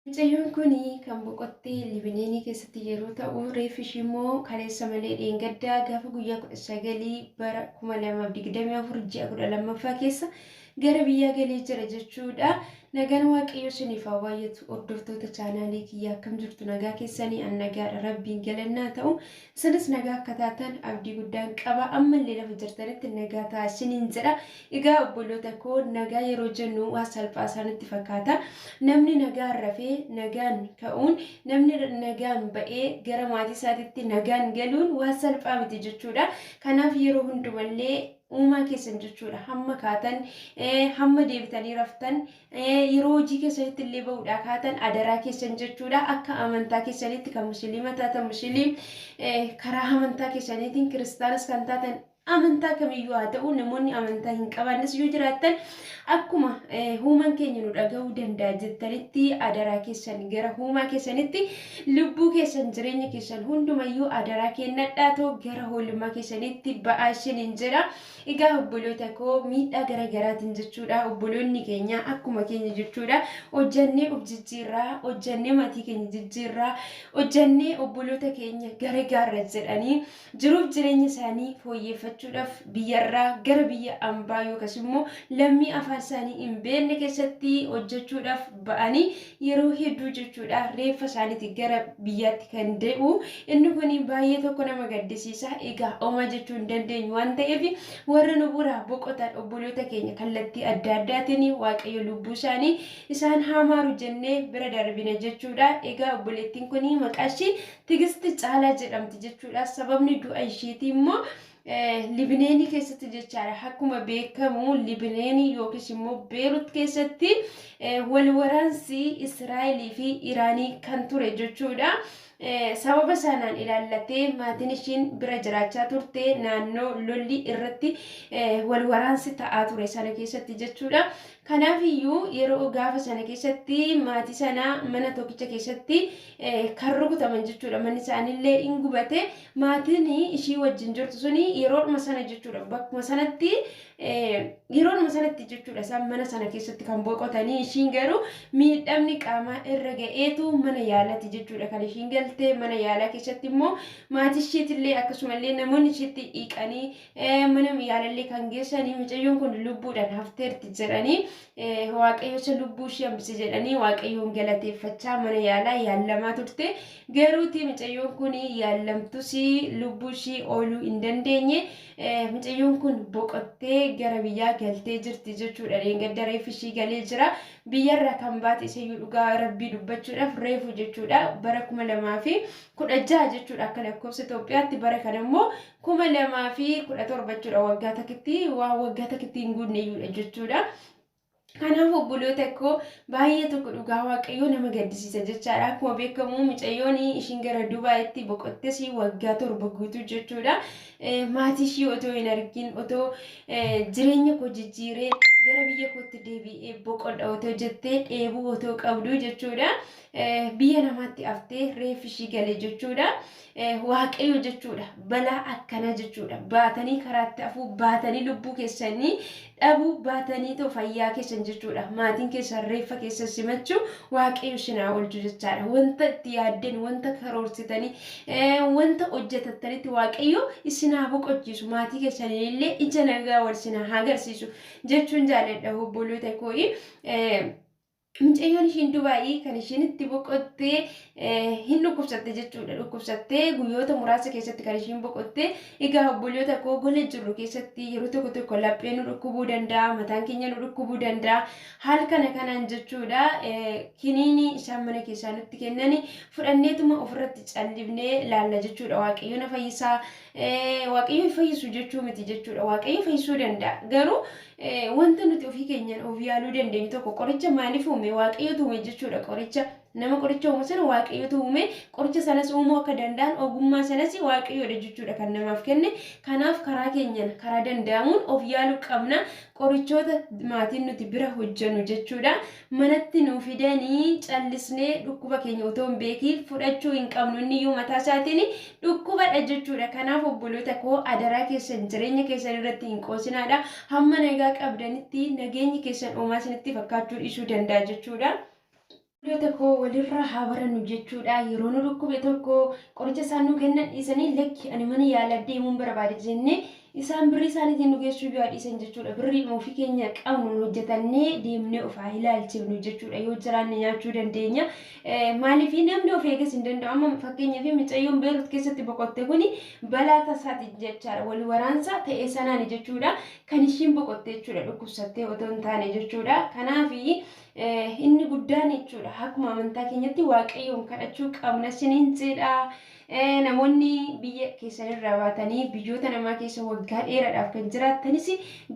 Mucayyoon kun kan boqotte Libineenii keessatti yeroo ta'u, reeffi ishii immoo kaleessa malee dheengaddaa gaafa guyyaa 19 bara 2024 ji'a 12ffaa keessa Gara biyyaa galee jira jechuudha. Nagaan waaqayyoo isiniif haa baay'atu hordoftoota chaanaalii kiyya akkam jirtu nagaa keessanii an nagaadha rabbiin galannaa ta'u isinis nagaa akka taatan abdii guddaan qaba ammallee lafa jirtanitti nagaa ta'a isiniin jedha egaa obboloota koo nagaa yeroo jennu waa salphaa isaanitti fakkaata namni nagaan rafee nagaan ka'uun namni nagaan ba'ee gara maatii isaatitti nagaan galuun waa salphaa miti jechuudha kanaaf yeroo hundumallee uumaa keessan jechuudha hamma kaatan hamma deebitanii raftan yeroo hojii keessanitti illee ba'uudhaa kaatan adaraa keessan jechuudha akka amantaa keessanitti kan musliima taatan musliim karaa amantaa keessaniitiin kiristaanas kan taatan amantaa kamiyyuu haa ta'u namoonni amantaa hin qabaannes yoo jiraattan Akkuma huuman keenya nu dhaga'uu danda'a jettanitti adaraa keessan gara huumaa keessanitti lubbuu keessan jireenya keessan hundumayyuu adaraa kennadhaa too gara hoolummaa keessanitti ba'aa isiniin jedha. Egaa obboloota koo miidhaa gara garaatiin jechuudha obboloonni keenya akkuma keenya jechuudha hojjannee of jijjiirraa hojjannee maatii keenya jijjiirraa hojjannee obboloota keenya gara gaarra jedhanii Jiruuf jireenya isaanii fooyyeeffachuudhaaf biyyarraa gara biyya ambaa yookas immoo lammii afaan isaanii hin beekne keessatti hojjechuudhaaf ba'anii yeroo hedduu jechuudha reeffa isaaniiti gara biyyaatti kan dee'u inni kun baay'ee tokko nama gaddisiisa egaa omaa jechuu hin dandeenyu waan ta'eef warra nu buraa boqotaan obboloota keenya kallattii adda addaatiin waaqayyo lubbuu isaanii isaan haamaaru jennee bira darbina jechuudha egaa obboleettiin kun maqaa ishii Tigisti Caalaa jedhamti jechuudha. Sababni du'a isheetii immoo Libineenii keessatti jechaadha. Akkuma beekamu Libineenii yookiis immoo Beerut keessatti wal waraansi Israa'elii fi Iraanii kan ture jechuudha. Sababa sanaan ilaallatee maatiin ishiin bira jiraachaa turte naannoo lolli irratti wal waraansi ta'aa ture sana keessatti jechuudha. Kanaaf iyyuu yeroo gaafa sana keessatti maatii sana mana tokkicha keessatti kan rukutaman jechuudha. Manni isaaniillee in gubate. Maatiin ishii wajjin jirtu suni yeroodhuma sana jechuudha. Bakkuma sanatti yeroodhuma sanatti jechuudha isaan mana sana keessatti kan boqotanii ishiin garuu miidhamni qaamaa irra ga'eetu mana yaalati jechuudha kan ishiin galte mana yaalaa keessatti immoo maatii ishiitillee akkasumallee namoonni ishiitti dhiiqanii mana yaalallee kan geessanii mucayyoon kun lubbuudhaan hafteerti jedhanii waaqayyocha lubbuu ishee hambise jedhanii waaqayyoon galateeffachaa mana yaalaa yaallamaa turte garuuti mucayyoon kun yaallamtus lubbuu ishee ooluu hin dandeenye mucayyoon kun boqottee gara biyyaa galtee jirti jechuudha dheengadda reeffi ishii galee jira biyyarra kan baate isayyuu dhugaa rabbii dubbachuudhaaf reefu jechuudha bara kuma lamaa fi kudha jaha jechuudha akka lakkoofsa Itoophiyaatti bara kana immoo 2017 jechuudha waggaa takitti waan waggaa takitti hin guunne iyyuudha jechuudha. Kanaaf obboloota koo baay'ee tokko dhugaa waaqayyoo nama gaddisiisa jechaadha. Akkuma beekamu micayyoon ishiin gara Dubaayitti boqottes waggaa torba guutuu jechuudha. Maatii ishii otoo hin argin otoo jireenya koo jijjiiree gara biyya kootti deebi'ee boqodha otoo jettee dheebuu otoo qabdu jechuudha. Biyya namaatti haftee reeffi ishii gale jechuudha. waaqayyo jechuudha balaa akkanaa jechuudha baatanii karaatti afuu baatanii lubbuu keessanii dhabuu baatanii too fayyaa keessan jechuudha maatiin keessan reeffa keessan simachuu waaqayyo sinaa oolchu jechaadha wanta itti yaaddeen wanta karoorsitanii wanta hojjetattanitti waaqayyo isinaa boqochiisu maatii keessanii illee ija nagaa wal sinaa hagarsiisu jechuun jaalladha obboloota koo'i. Mucayyoon ishiin Dubaayii kan ishiin itti boqotte hin dhukkubsatte jechuudha. Dhukkubsattee guyyoota muraasa keessatti kan ishiin boqotte. Egaa obboliyoota koo gola jirru keessatti yeroo tokko tokko laphee nu dhukkubuu danda'a, mataan keenya nu dhukkubuu danda'a. Haal kana kanaan jechuudha kiniinii isaan mana keessaa nutti kennani fudhanneetuma ofirratti callifnee laalla jechuudha. Waaqayyo na fayyisaa, waaqayyo hin fayyisu jechuu miti jechuudha. Waaqayyo fayyisuu danda'a. Garuu Wanta nuti ofii keenyaan of yaaluu dandeenyu tokko qoricha maaliif uume waaqayyotu uume jechuudha qoricha nama qoricha uumu sana waaqayyotu uume qoricha sanas uumuu akka danda'an ogummaa sanas waaqayyoodha jechuudha kan namaaf kenne kanaaf karaa keenyaan karaa danda'amuun of yaaluu qabna qorichoota maatiin nuti bira hojjennu jechuudha manatti nuu fidanii callisnee dhukkuba keenya otoo hin beekiin fudhachuu hin qabnu inni iyyuu mataa isaatiin dhukkubadha jechuudha kanaaf obboloota koo adaraa keessan jireenya keessan irratti hin qoosinaadha hamma nagaa qabdanitti nageenyi keessan oomaa isinitti fakkaachuu dhiisuu danda'a jechuudha. Obboloota koo walirraa haa barannu jechuudha yeroo nu dhukkube tokko qoricha isaan nuu kennan dhiisanii lakki ani mana yaalaa deemuun barbaada jennee Isaan birrii isaaniitiin nu geessuyyuu haa dhiisan jechuudha. Birriidhuma ofii keenya qabnuun hojjetannee deemnee of haa ilaalchifnu jechuudha. Yoo jiraanne nyaachuu dandeenya. Maaliif namni of eegas hin danda'u. Amma fakkeenyaaf micayyoon Beerut keessatti boqotte kuni balaa tasaati jechaadha. Wal waraansa ta'e sanaani jechuudha. Kan ishiin boqotte jechuudha dhukkubsattee otoo hin taane jechuudha. Kanaaf inni guddaan jechuudha akkuma amantaa keenyatti waaqayyoon kadhachuu qabna siniin jedha. Namoonni biyya keessanirraa baatanii biyyoota namaa keessa waggaa dheeraadhaaf kan jiraattanis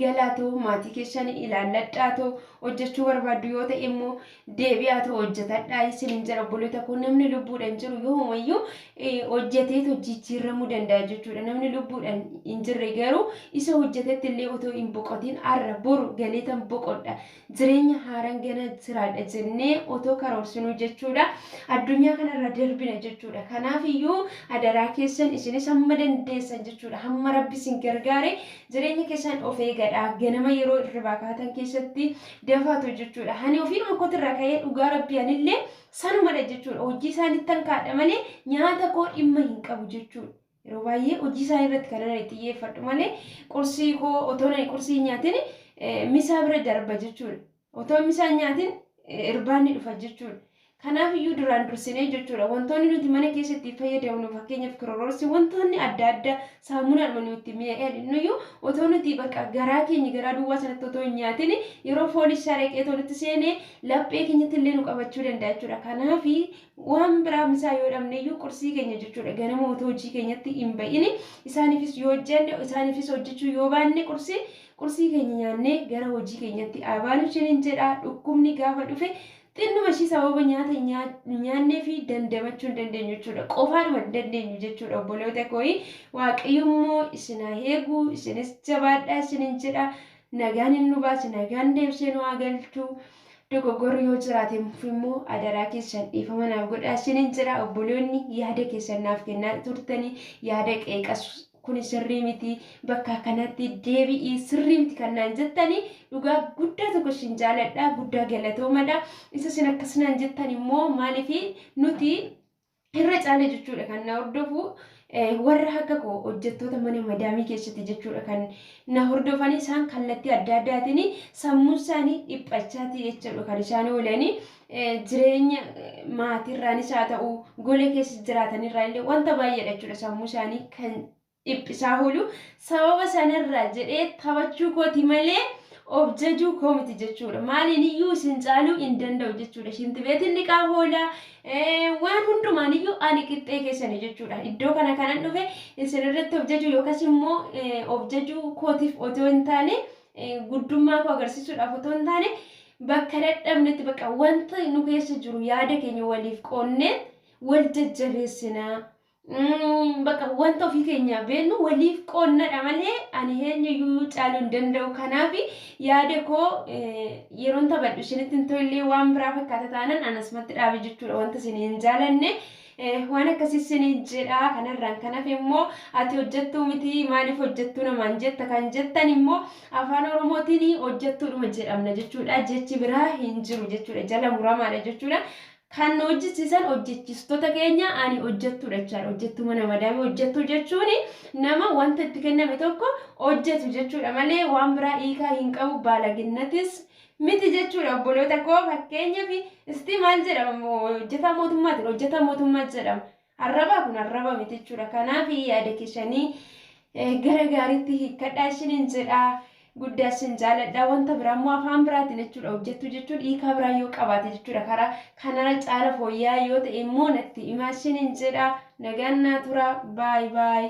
galaatoo maatii keessan ilaalladhaatoo hojjechuu barbaaddu yoo ta'e immoo deebi'aatoo hojjetadhaa isinin jedha obboloota koo namni lubbuudhaan jiru yoomayyuu hojjeteetoo jijjiirramuu danda'a jechuudha namni lubbuudhaan hin jirre garuu isa hojjetetti illee otoo hin boqotiin arra boru galeetan boqodha jireenya haaran gana jiraadha jennee otoo karoorsinuu jechuudha addunyaa kanarra darbina jechuudha kanaaf iyyuu adaraa keessan isinis hamma dandeessan jechuudha hamma rabbi isin gargaare jireenya keessan of eegadha ganama yeroo irribaa kaatan keessatti dafaatu jechuudha hani ofiinuma kotirra ka'ee dhugaa rabbi anillee sanumadha jechuudha hojii isaanittan kaadha malee nyaata koo dhimma hin qabu jechuudha Yeroo baay'ee hojii isaanii irratti kan ani xiyyeeffadhu malee qursii koo otoo ani qursii hin nyaatin misaa bira darba jechuudha. Otoo misaa hin nyaatin irbaanni dhufa jechuudha. Kanaaf iyyuu duraan dursinee jechuudha wantoonni nuti mana keessatti fayyadamnu fakkeenyaaf kirororsi wantoonni adda addaa saamunaadhuma nuti mi'aadhinnu iyyuu otoo nuti bakka garaa keenya garaa duwwaa sanatti otoo hin nyaatin yeroo foon isaa dhaqee otoo nutti seenee laphee keenyatti illee nu qabachuu danda'a jechuudha. Kanaaf waan biraa misaa yoo dhabneyyuu qursii keenya jechuudha ganama otoo hojii keenyatti hin ba'ini isaaniifis yoo hojjenne isaaniifis hojjechuu yoo baanne qursii qursii keenya nyaannee gara hojii keenyatti abaanu isiniin jedha dhukkubni gaafa dhufe xinnuma ishii sababa nyaata nyaannee fi dandamachuu hin dandeenyu jechuudha qofaadhuma hin dandeenyu jechuudha obboloota kooyi waaqayyummoo isin haa eegu isinis jabaadhaa isiniin jedha nagaan hin nu baase nagaan deebisee nu haa galchu Dogoggorri yoo jiraate immoo adaraa keessan dhiifama naaf godhaa isiniin jedha obboloonni yaada keessan naaf kennaa turtanii yaada qeeqas kuni sirrii miti bakka kanatti deebi'ii sirrii miti kan naan jettanii dhugaa guddaa tokko isin jaaladha guddaa galatoomadha isa isin akkas naan jettan immoo maaliif nuti Irra caala jechuudha kan na hordofu warra akka koo hojjettoota mana madaamii keessatti jechuudha kan na hordofanii isaan kallattii adda addaatiin sammuun isaanii dhiphachaati jechuudha kan isaan oolanii jireenya maatiirraanis haa ta'u gola keessa jiraatanirraa illee wanta baay'eedha jechuudha sammuu isaanii kan dhiphisaa oolu. Sababa sanarraa jedhee taphachuu kooti malee of jajuu koo miti jechuudha. Maaliiniyyuu isin caaluu hin danda'u jechuudha. Shintibeetiin dhiqaa oola. Waan hundumaaniyyuu ani qixxee keessani jechuudha. Iddoo kana kanan dhufe isin irratti of jajuu yookas immoo of jajuu kootiif otoo hin taane guddummaa koo agarsiisuudhaaf otoo hin taane bakka dadhabnetti bakka wanta nu keessa jiru yaada keenya waliif qoonnee wal jajjabeessinaa. Bakka wanta ofii keenyaa beennu waliif qoonnadha malee ani eenyuyyuu caaluu hin danda'u. Kanaaf yaada koo yeroon taphadhu isinitti hin tollee waan biraa fakkaata taanan anasumatti dhaabe jechuudha wanta isin hin jaalanne. Waan akkasii isin jedha kanarraan kan hafe immoo ati hojjettuu miti maaliif hojjettuu namaan jetta kan jettan immoo afaan oromootiin hojjettuudhuma jedhamna jechuudha jechi biraa hin jiru jechuudha jala muramaadha jechuudha. Kan nu hojjechiisan hojjechiistota keenya ani hojjettuudha jechaadha. Hojjettuu mana madaamii hojjettuu jechuun nama wanta itti kenname tokko hojjetu jechuudha malee waan biraa hiikaa hin qabu baalaginnatis miti jechuudha obboloota koo fakkeenyaaf isti maal jedhama hojjetaa mootummaatiin hojjetaa mootummaa jedhama. Arrabaa kun arraba miti jechuudha. Kanaaf yaada keessanii gara gaariitti hiikkadhaa isiniin jedha. Guddaa isin jaaladha. Wanta biraa immoo afaan biraatiin jechuudha hojjettu jechuun hiikaa biraa yoo qabaate jechuudha. Karaa kanarra caala fooyya'aa yoo ta'e immoo natti himaa isiniin jedha. Nagaan naa tura. Baay baay.